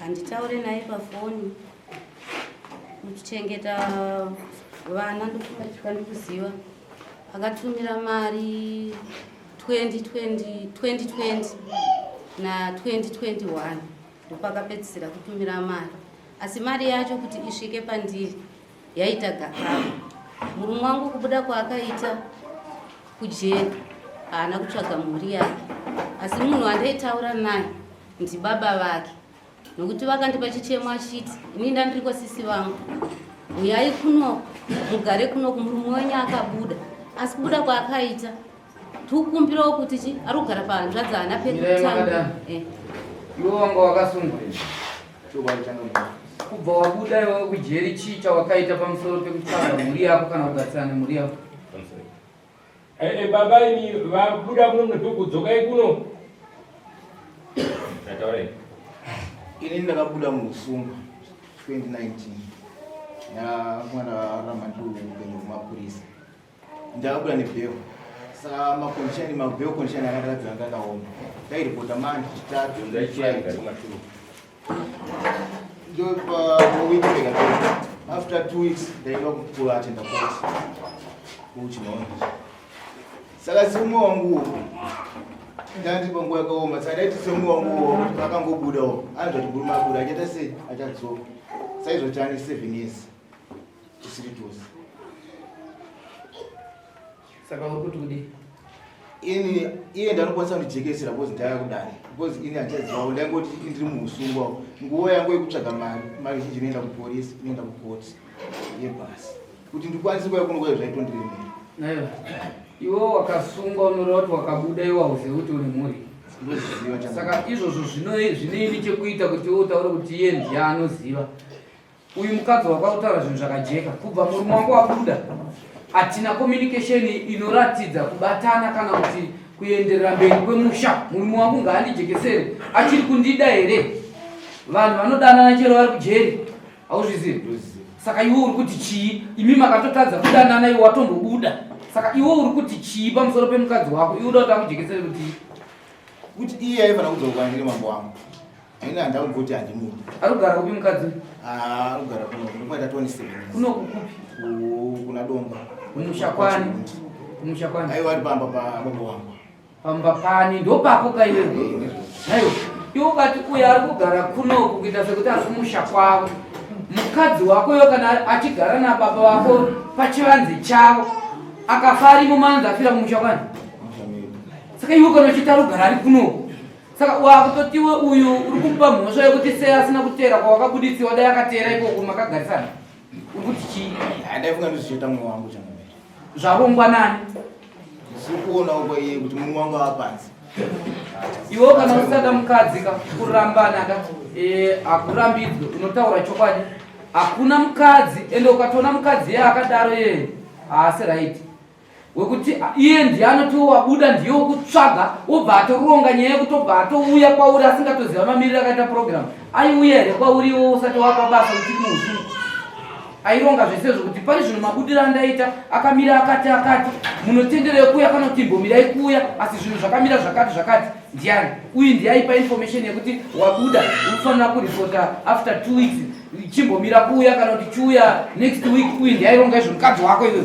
handitaure naye pafoni kuchengeta vana ndokumatika ndikuziva akatumira mari 2020 2020 na 2021 ndopakapedzisira kutumira mari asi mari yacho kuti isvike pandiri yaita gakava murume wangu kubuda kwaakaita kujeri haana kutsvaga mhuri yake asi munhu wandaitaura naye ndibaba vake nokuti vakandipa chichemo achiti ini ndandiriko sisi vangu uyai kunoku mugare kunoku murume wenyu akabuda asi kubuda kwaakaita tikukumbirawo kuti chi ari kugara pahanzvadzi haana pekutanga eh. iwe wanga wakasungwa kubva wabuda iwe kujeri chii chawakaita pamusoro pekutanga mhuri yako kana kugarisana nemhuri yako eh, eh, baba ini vabuda kuno mnopekudzokai kuno ini ndakabuda muusungwa 2019 ya mwana ramanduu upenyu kumapurisa Ndakabuda nebhero sa makondition mabhero condition akaratidza anga ndaoma ndairipota manje chitatu ndopa week rega after two weeks ndaida kukula atenda koti kuchinoona saka siumwe wanguwo ndati panguva yakaoma saka ndaiti siumwe wanguwo akangobudawo anzvati guru mabuda achaita sei achadzoka saizvo chani seven years tisiri tose saka uri kuti kudii ini iye ndanokwanisa kundijekesera bcoz ndaya kudai bcoz ini handichazivawo ndaingoti ndiri muusungwa nguva yangu yekutsvaga mari mari zhinji inoenda kupolisi inoenda kukoti yebhasi kuti ndikwanise kuya kunokuya zvaitondiremera iwe wakasungwa unoreva kuti wakabuda iwe hauzive kuti une mhuri saka izvozvo zvinoini chekuita kuti iwe utaure kuti iye ndiye anoziva uyu mukadzi wakautaura zvinhu zvakajeka kubva murume wangu wabuda hatina communication inoratidza kubatana kana kuti kuenderera mberi kwemusha murume wangu ngaandijekesere achiri kundida here vanhu vanodanana chero vari kujeri hauzvizivi saka iwe uri kuti chii imi makatotadza kudanana iwe watombobuda saka iwe uri kuti chii pamusoro pemukadzi wako iwe uda kuti akujekesere kuti kuti iye aifana kudzoka kwandiri mambo wangu Haina ndau kuti handimudi. Ari kugara kupi mukadzi? Ah, ari kugara kuno. Kunoita 27. Kuno kukupi? Kuna Domba. Mushakwane. Mushakwane. Aiwa ari pamba pa baba wangu. Pamba pani ndopako ka iwe. Hayo. Iwe ukati uya ari kugara kuno kuita sekuti ari kumusha kwavo. Mukadzi wako yo kana achigara na baba wako pachivanze chavo. Akafari mumanza afira mumusha kwani? Saka iwe kana uchitaro gara ari kuno. saka wakutotiwe uyu uri kumupa mhosva yekuti sei asina kuteera kwawakabuditsiwa dai akateera ikoko makagarisana uri kuti chii ndaifunga ndozvichita mwe wangu cham zvarongwa nani zikuona uko iye kuti munhu wangu apanzi iwo kana usada mukadzi ka kurambana ka eh, hakurambidzwe unotaura chokwadi hakuna mukadzi ende ukatoona mukadzi ye akadaro yeye haasi raiti wekuti iye ndiye anotiwo wabuda ndiye wokutsvaga wobva atoronga nyaya yekutobva atouya kwauri asingatoziva mamiriro akaita purogiramu aiuya here kwauri iwo usati wapa basa uchiri muusuu aironga zvese zvokuti pari zvino mabudiro andaita akamira akati akati munotendero yekuuya kana kuti imbomirai kuuya asi zvinhu zvakamira zvakati zvakati ndiani uyu ndiye aipa information yekuti wabuda unofanira kuripota after two weeks chimbomira kuuya kana kuti chiuya next week uyu ndiye aironga izvo mukadzi wako iyoyo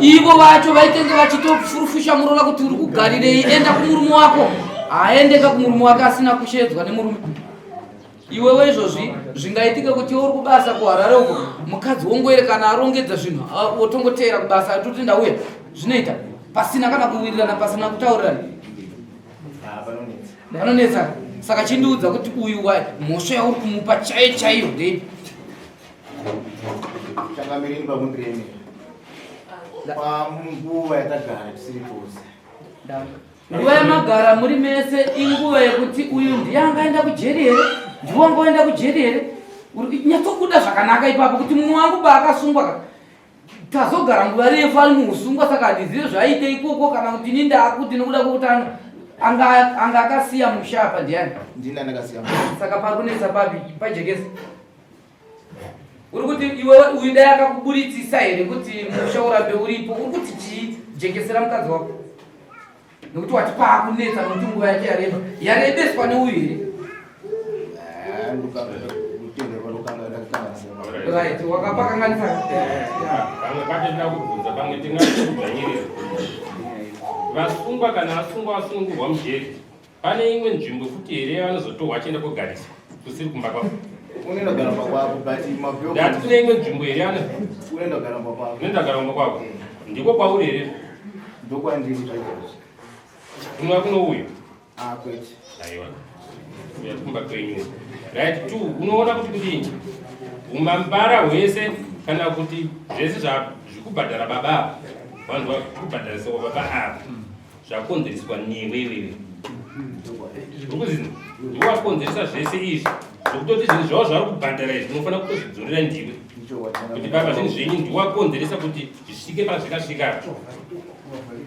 ivo vacho vaitenge vachitofurufusha murola kuti uri kugarirei enda kumurume wako haaendeka kumurume wake asina kushedzwa nemurume iwewe izvozvi zvingaitike kuti uri kubasa kuharare uko mukadzi wongoere kana arongedza zvinhu wotongoteera kubasa atoti ndauya zvinoita pasina kana kuwirirana pasina kutaurirana vanonetsa saka chindiudza kuti uyu mhosva yauri kumupa chaiyo chaiyo ndeipi Changamireni pamwe pene. Panguva yatagara tisiri tose. Nguva yamagara muri mese inguva yekuti uyu ndiye angaenda kujeri here? Ndiwe angoenda kujeri here? Nyatsokuda zvakanaka ipapo kuti mumwe wangu paakasungwa ka tazogara nguva refu ari muusungwa saka handizive zvaiite ikoko kana kuti ini ndaakuti nokuda kwokutanga anga akasiya musha apa ndiani ndini andakasiya saka pari kunetsa papi pajekesa uri kuti iwe uyu dai akakuburitsisa here kuti musha urambe uripo uri kuti chii jekesera mukadzi wako nekuti wati paakunetsa nokuti nguva yake yareba yarebeswa neuyu here right wakapakanganisa vasungwa kana asungwa asungurwa mujeri Pane imwe nzvimbo futi here yavanozotorwa achienda kogariswa kusiri kumba kwavo? Unoenda kugara kumba kwako but mabhuyo. Ndati kune imwe nzvimbo here yana? Unoenda kugara kumba kwako. Unoenda kugara kumba kwako. Ndiko kwauri here? Ndokwandiri zvachose. Kunwa kuno uyu? Ah kwete. Aiwa. Uya kumba kwenyu. Right two unoona kuti kudini? Umambara hwese kana kuti zvese zvakubhadhara baba. Vanhu vakubhadhara soko baba ava. zvakonzereswa newe iwewe ukuziva ndiwe wakonzeresa zvese izvi zvokutoti zvinhu zvavo zvavari kubhadhara izvi unofanira kutozvidzorera ndiwe kuti baba zvinhu zvenyu ndiwe wakonzeresa kuti zvisvike pazvikasvika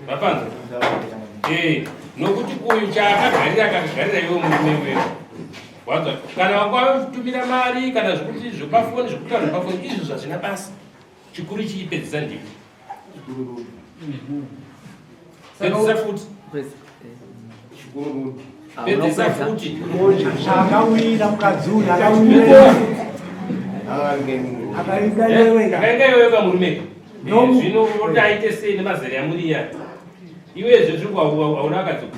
vapanza ee nokuti uyu chaakagarira akagarira iwe murume wewe waza kana wakwave kutumira mari kana zvekuti zvepafoni zvekutaura zvepafoni izvi zvazvina basa chikuru ichi chipedzisa ndiko pedzisa futi chikuru rudo pedzisa futi akawira mukadzi uyu akawira akaida iwewe akaida iwewe kamurume zvino unotaite sei nemazera yamuriya iwezve zvikuauna akadzoka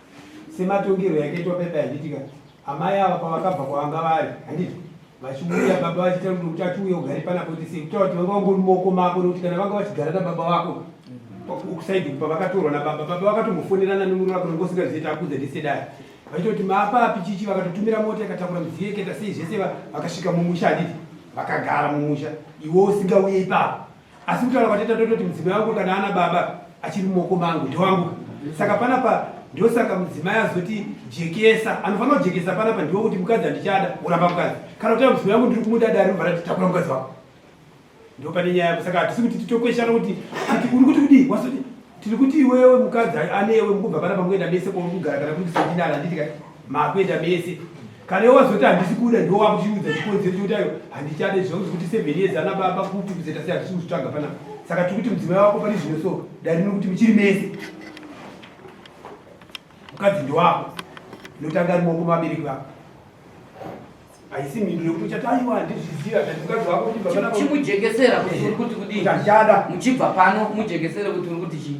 sematongerwo yakaitwa pepa yanditika amai ava pavakabva kwavanga vari handiti vachiuya baba vachita rudo kuti achiuya ugare panapo kuti sei kutaura kuti vanga vangori moko mako nekuti kana vanga vachigara nababa vako kusaidi kupa vakatorwa nababa baba vakatombofonerana nemuri vako nonge usingaziita akudza ndisedaya vachitoti maapapi chichi vakatotumira mota yakatakura midziyo yeketa sei zvese vakasvika mumusha handiti vakagara mumusha iwe usingauye ipapo asi kutaura kwateta tototi mudzimai wangu kana ana baba achiri mumaoko mangu ndewangu saka panapa ndosaka mudzimai azoti jekesa anofanira kujekesa panapa ndiwo kuti mukadzi handichada kuramba mukadzi kana kutaura mudzimai wangu ndiri kumuda dare ribva rati takura mukadzi wako ndo pane nyaya yako saka hatisi kuti titokweshana kuti ati uri kuti kudii wasoti tiri kuti iwewe mukadzi anewe mukubva panapa mukuenda mese kwauri kugara kana kuti kusedinana handiti kai makuenda mese kana iwe wazoti handisi kuda ndiwo wakuchiudza chikonzero chekuti ayo handichade zvakuti kuti seven years ana baba kupi kuzeta sei hatisi kuzvitsvaga panapa saka tiri kuti mudzimai wako pane zvino so dare nokuti muchiri mese mukadzi ndiwako inotanga ari moko mabereki vako haisi mhinduro yekuti uchati aiwa handizviziva kati mukadzi wako kuti babachimujegesera kuti uri kuti kudii ndachada muchibva pano mujegesere kuti uri kuti chii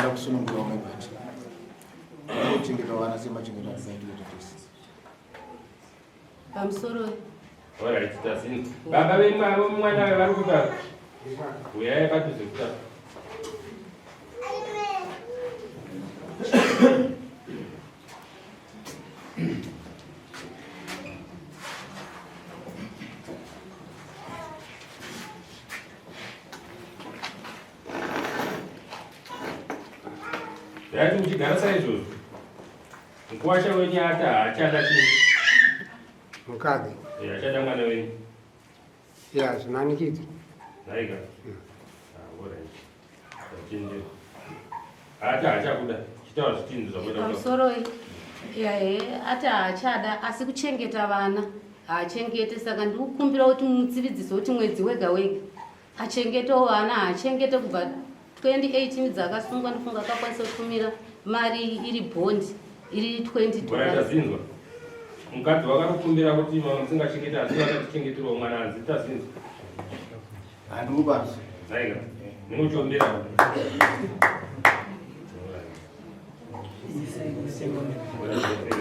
ndakusunungura umwe bati anochengeta vana semachengeta asaitire tese pamusoro Alright, tasini. Baba vemwa avo mwana we vari kupa. Uya ye patu zekuta. Yati mchigara sa izvozvo. Mkwasha wenye hata hachada chii. mukadzi eh, achada mwana wenyu ya zvinanikidza naika hmm. ah, ati haachakuda chitaura zvitinzi zvamusoroi yahe ati haachada asi kuchengeta vana haachengete saka ndikukumbira kuti mutsividzise kuti mwedzi wega wega achengetawo vana haachengete kubva 2018 dzakasungwa ndifunga akakwanisa kutumira mari iri bond iri 20 mukadzi wakatokumbira kuti mama musingachengete asi vakatichengetiwa mwana anzi tazinzwa andiubanzi aiga ndinochombera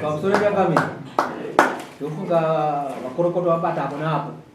pamusoro pepamiri ndofunga vakorokoto vabata apo naapo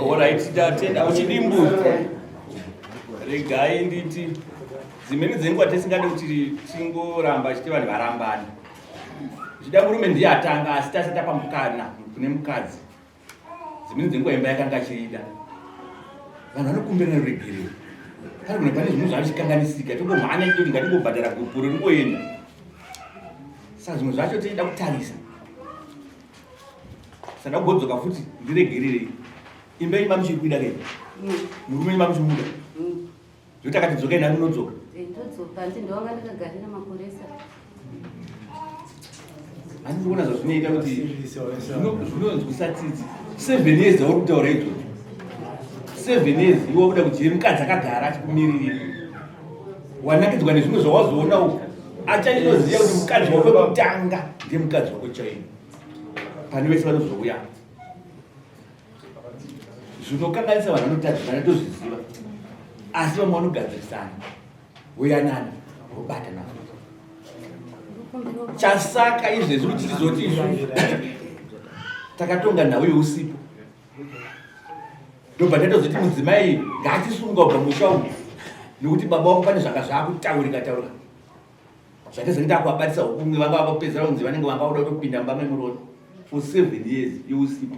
Alright, tatenda uchidi mbuzi. Regai nditi dzimweni dzenguva tisingade kuti tingoramba chiti vanhu varambani. Zvida murume ndiye atanga asi tasita pamukana kune mukadzi. dzimweni dzenguva imba yakanga achiida vanhu vanokumbirana ruregerero kana kuna pane zvinhu zvavichikanganisika tongomhanya chitoti ngatingobhadhara gupuro ringoenda saka zvimwe zvacho tichida kutarisa sada kugodzoka futi ndiregererei imba yenyu mamuchiri kuida kei murume wenyu mamuchimuda Zvekuti akati dzokai nani unodzoka. Eh, ndodzoka hanzi ndovanga ndakagarira makoresa. Hanzi kuona zvazvinoita kuti zvinonzwisa tsitsi. Seven years dzauri kutaura idzodzo. Seven years iwe wakuda kudyire mukadzi akagara achikumiririra. Wanakidzwa nezvimwe zvawazoona uku. Achanyinoziva kuti mukadzi wako kutanga ndiye mukadzi wako chaiye. Pane vese vanozouya. zvinokanganisa vanhu vanotadzisana tozviziva asi vamwe vanogadzirisana voyanana vobatana chasaka izvezvi kuti tizoti izvo takatonga nhau yousipo ndobva tatozoti mudzimai ngatisunga ubva musha umu nekuti baba wako pane zvanga zvaakutaurika taurika zvatizi nditakuvabatisa hukumwe vanga vakupedzera kunzi vanenge vanga kuda kutopinda mumba memurono for seven years yousipo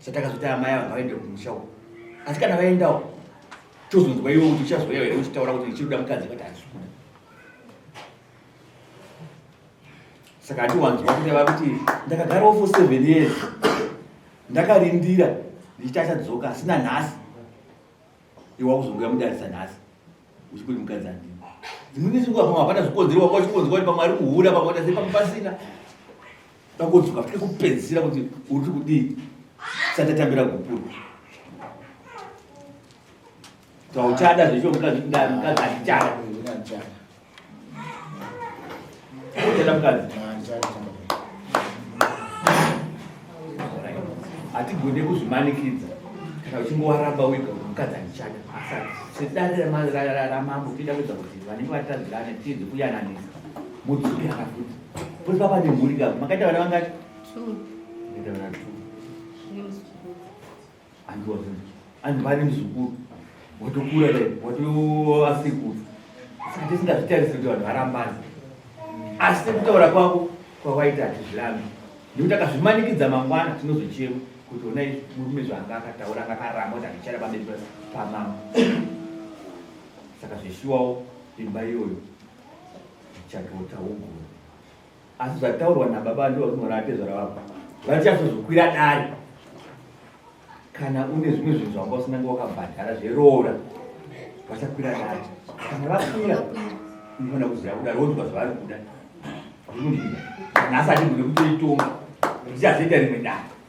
satakazoti amai vanga vaende kumusha uko asi kana vaendawo tozonzwa iwe kuti uchazouya here uchitaura kuti ndichirikuda mukadzi vati hazvikuda saka handiwanzwa kuti ava kuti ndakagarawo for seven years ndakarindira ndichiti achadzoka asina nhasi iwe wakuzongoya mudarisa nhasi uchikuti mukadzi andini dzimweni dzenguva pamwe hapana zvikonzero wanga uchikonzwa kuti pamwe ari kuhura pamwe kuti asi pamwe pasina pakodzoka futi kupedzisira kuti uri kudii satatambira kupurwa tauchada zvecho mukadzi kuti ndamukadzi andichada hatigone kuzvimanikidza kana uchingowaramba wega mukadzi andichada asati sedare ramambo tida kuedza kuti vanenge vatadzirana tiedze kuyananisa mudzukira kafuti kuti papa nemhuri kako makaita vana vangati and was rich and mari muzukuru watokura dai watoasekuru saka tisingazvitarise kuti vanhu varambana asi sekutaura kwako kwawaita hatizvirambi nekuti akazvimanikidza mangwana tinozochema kuti ona izvi murume zvaanga akataura anga akaramba kuti andichara pamberi pamama saka zveshuwawo imba iyoyo chatotaugura asi zvataurwa nababa ndivo vakunora atezvara vavo vatichazozokwira dare kana une zvimwe zvinhu zvanga usina nga wakabhadhara zveroora vachakwira dare kana vakwira unofanira kuziva kuda ronzwa zvavari kuda zvinodii nhasi atigone kutoitonga ndichazoita rimwe dare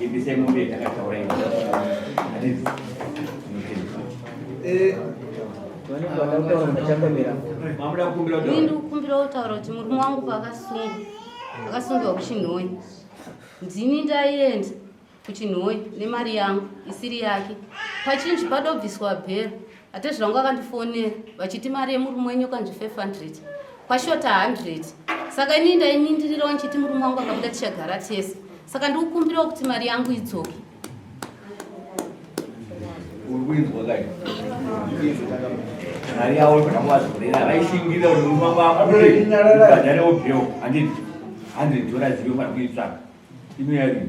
Ibisai mombe yatakataura iyo. Hadithi. Eh, Vanenge vakataura machambamira. Mamuda kukumbira kuti- Ini ndikukumbirawo kutaura kuti murume wangu paakasungwa akasungirwa kuchinhoyi ndini ndaienda kuchinhoyi nemari yangu isiri yake pachinji padobviswa bhera Atezvi vangu vakandifonera vachiti mari yemurume wenyu kanzi 500 kwashota 100 saka ini ndainindirirawo ndichiti murume wangu akabuda tichagara tese saka ndikukumbirawo kuti mari yangu idzoke mari yavo zvakavazorera vaishingirira kuti murume wangu abudeadharewo bheo 100 dollars yofanira kuitsvaka inoyarii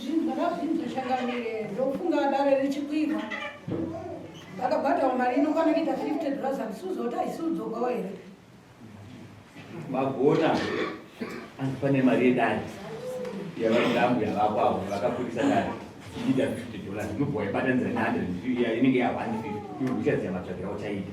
zvinhu zvakazvinhu zvichangamire ndokufunga dare richikwirwa vakabhadhawo mari inokwana kuita 50 dollars andisuzoti haisudzogawo here magona anzi pane mari yedare yavadambu yavako avo vakakurisa dare iita 50 dollars inobva yaibatanizira ne 100 inenge ya 150 iuchaziva matsvakira uchaita